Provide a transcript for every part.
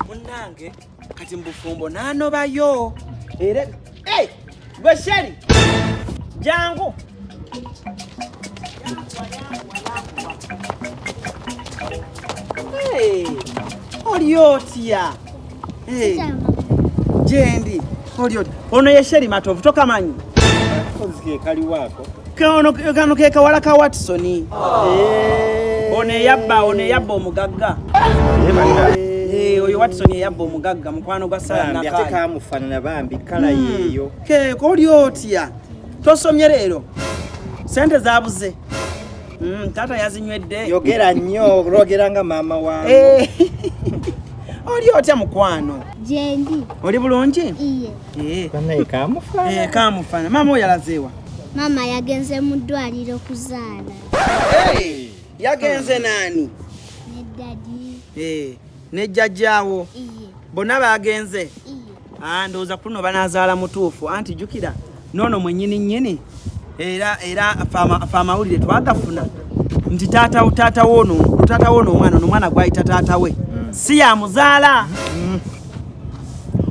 munange kati mubufumbo nanobayo era gwe sheri jangu Hey, Oriotia. Jendi olyo ono ye Sheri Matovu tokamanyi kano ke kawala ka Watson eh. ono eyabba ono eyabba omugagga eh, eh, oyo Watson eyabba omugagga mukwano gwa Saranakamufana bambi kala hmm. yeyo keko oli otya tosomye leero sente zabuze Mm, taata yazinywedde. Yogera nnyo lwogera nga maama wange. Eh. Oli otya mukwano? Jendi. Oli bulungi? Iye. Eh. Banaye kamufana. Eh, kamufana. Maama oyo alazeewa? Maama yagenze mu ddwaliro kuzaala. Hey, yagenze nani? Ne daddy. Eh, ne jjajjaawo. Iye. Bonna baagenze? Iye. Ah, ndowooza kuno banazaala mutuufu anti jukira noono mwenyini nyini era era fe amawulire twagafuna nti taata taata woono taata woono omwana ono omwana gwayita taata we mm. si yamuzaala mm.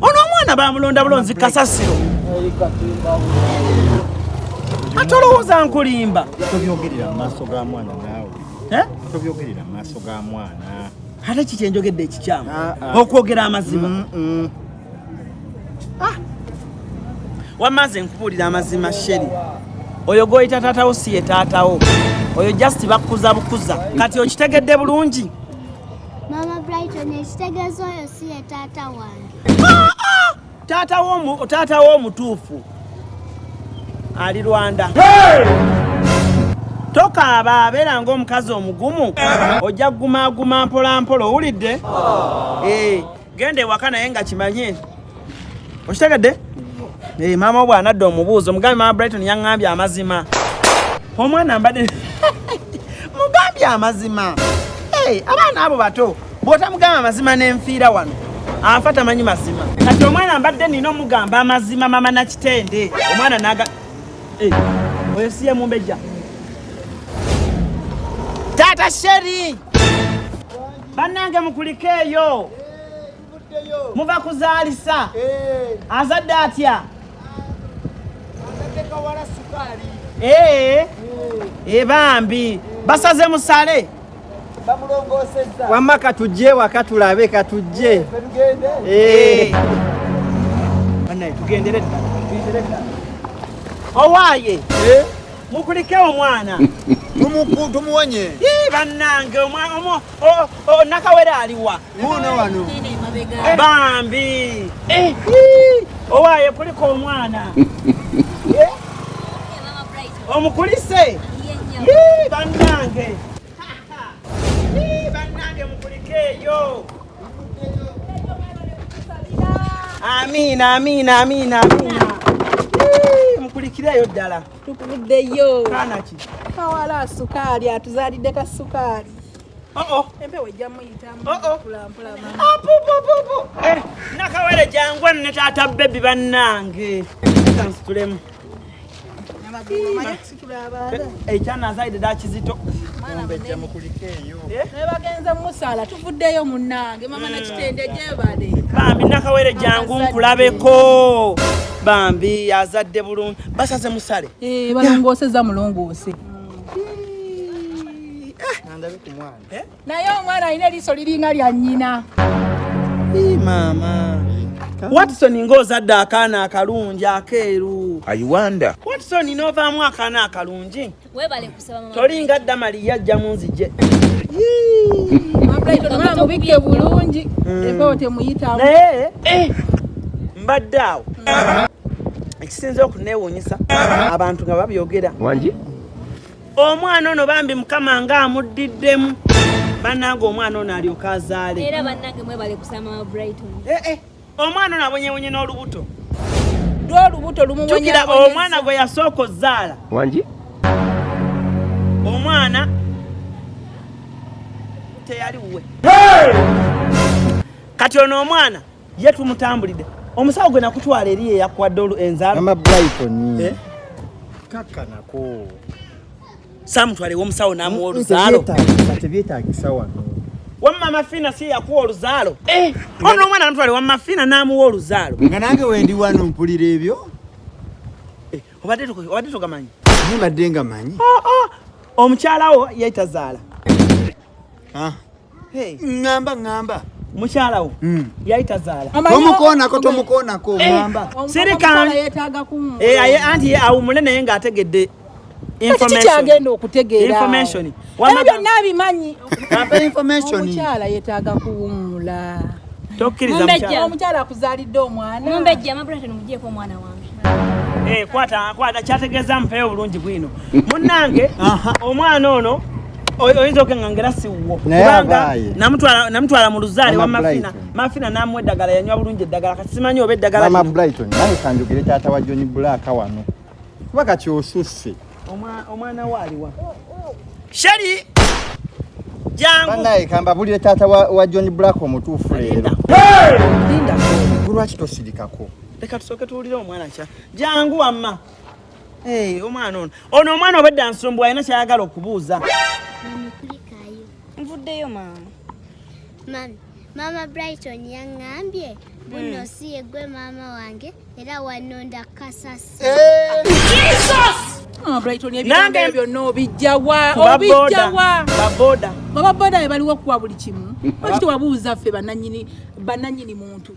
ono omwana bamulonda bulonzi kasasiro ate olowooza nkulimba tobyogerera mu maaso ga mwana naawe eh? tobyogerera mu maaso ga mwana ate kiki enjogedde ekikyamu ah, ah. okwogera amazima mm, mm. Ah. wamaze nkubuulira amazima sheri oyo gwoyita taatawo si ye taatawo oyo just bakukuza bukuza kati okitegedde bulungi mama brighton ekitegeeza oyo si ye taata wange Taata wo taata wo mutuufu ali Rwanda. Tokaaba abeera ng'omukazi omugumu ojja kugumaaguma mpolampola owulidde? Oh. Eh, genda ewaka naye nga kimanye okitegedde? Eh, maama wo bw'anadda omubuuzo mugambe maama Brighton yaŋŋambye amazima omwana mbadde mugambye amazima abaana abo bato bwotamugamba amazima nenfiira wano afa tamanyi mazima kati omwana mbadde nina omugamba amazima mama nakitende omwana naga eh, oyo siye mumbejja taata sheri bannange mukulike eyo muva kuzaalisa eh. azadde atya eh. bambi basaze musale wamma katujje waka tulabe katujje eh. owaaye eh? mukulike omwana tumuwonye bannange nakawere aliwa bambi eh. owaaye kulika omwana Omukulise yii bannange yii bannange mukulikeeyo. Amiina amiina amiina amiina mukulikireeyo ddala tukuddeyo kanaki kawala sukaali atuzaalidde ka sukaali oh, oh. empewo ejja muyitamu oh, eh, nakawere jangwa ne taata bebi bannange kansitulemu ekyanazaide dakizito bagenze mumusala tuvuddeyo munange mama nakitende gyebale bambi nakawere jangu nkulabeko bambi azadde bulungi basaze musale eh, balongooseza mulongoose eh. naye omwana alina eriiso liringa lya nnyina maama watson ng'ozadde akaana akalungi akeeru ayiwanda watson n'ovaamu akaana akalungi tolinga damali yajja mu nzije mubikke bulungi mm. empewo temuyitamu naye eh. mbadde awo ekisinza okuneewuunyisa abantu nga babyogera wangi omwana ono bambi mukama nga amuddiddemu banange omwana ono alyoka azaale era banange mwebale kusama wa brighton eh, eh. omwana ono abonyebonye n'olubuto lwolubuto lumujukira omwana gwe yasooka ozaala wangi omwana teyali wuwe kati ono omwana ye tumutambulidde omusawo gwe nakutwala eri eyakwadde olu enzala mama brighton eh? kaka nako samutwalewo omusawo namuwa oluzaalo tebyetagisa wano wamma mafina si yakuwa oluzaalo eh! ono omwana namutwale wamma fina namuwa oluzaalo nga nange wendi wano mpulira ebyo eh, obadde togamanyi mbadde nga manyi oh, oh. omukyalawo yaitazaala ah. Hey. Ngamba ngamba. Mukyala wo. Mm. Yali tazaala. Tomukoonako tomukoonako eh, ngamba. Sirika. Eh aye anti ye awumule naye nga ategedde information. Kiki kyagenda okutegeera? Information. Wamma byonna abimanyi. Ampa information. Mukyala yetaaga kuwumula. Tokkiriza mukyala. Omukyala akuzaalidde omwana. Mumbejja mabula tano mujeeko omwana wange. Eh kwata kwata kyategeeza mpeeyo bulungi bwino. Munnange omwana ono oyinza okenga ngera siwuwo kubanga namutwala mu luzaale wa mafina mafina namu eddagala yanywa bulungi eddagala kati simanyi oba eddagala mama brighton naye kanjogere taata wa john black wano kuba kati osusse omwana waaliwa sheri jangu naye kamba bulire taata wa, wa john black omutuufu leero lwaki tosirikako leka tusooke tuwulire omwana kya jangu wamma Hey, omwana ono ono omwana obadde ansumbuwa alina kyayagala okubuuza nvuddeyo maama mami maama brighton yaŋŋambye buno hmm. si yegwe maama wange era wanonda kasasi nange byonna obijjawa obijjawa baboda baba boda bebaliwo okuwa buli kimu bakiti wabuuza ffe bananyini muntu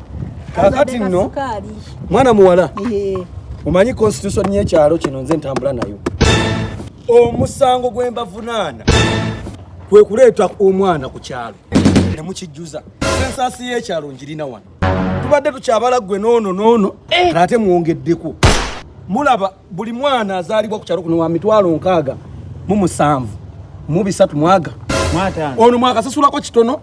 kakati nno mwana muwala omanyi constitution yekyalo kino nze ntambula nayo omusango gwembavunaana kwe kuleeta omwana ku kyalo ne mukijjuza sensaasi y'ekyalo ngirina wano tubadde tukyabala ggwe noono noono eh. ate mwongeddeko mulaba buli mwana azaalibwa ku kyalo kuno wa mitwalo nkaaga mu musanvu mu bisatu mwaga ono mwakasasulako kitono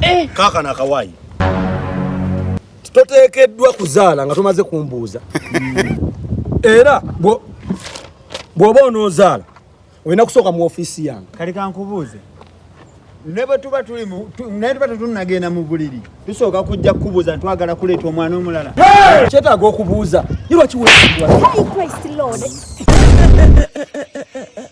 eh. kaka na kawaii toteekeddwa kuzaala nga tomaze kumbuuza era bw'oba onoozaala olina kusooka mu ofiisi yange kale kankubuuze ne bwe tuba tulimu naye tuba tetunnagenda mu buliri tusooka kujja kukubuuza ntwagala kuleeta omwana omulala kyetaaga okubuuza ye lwakiweebwa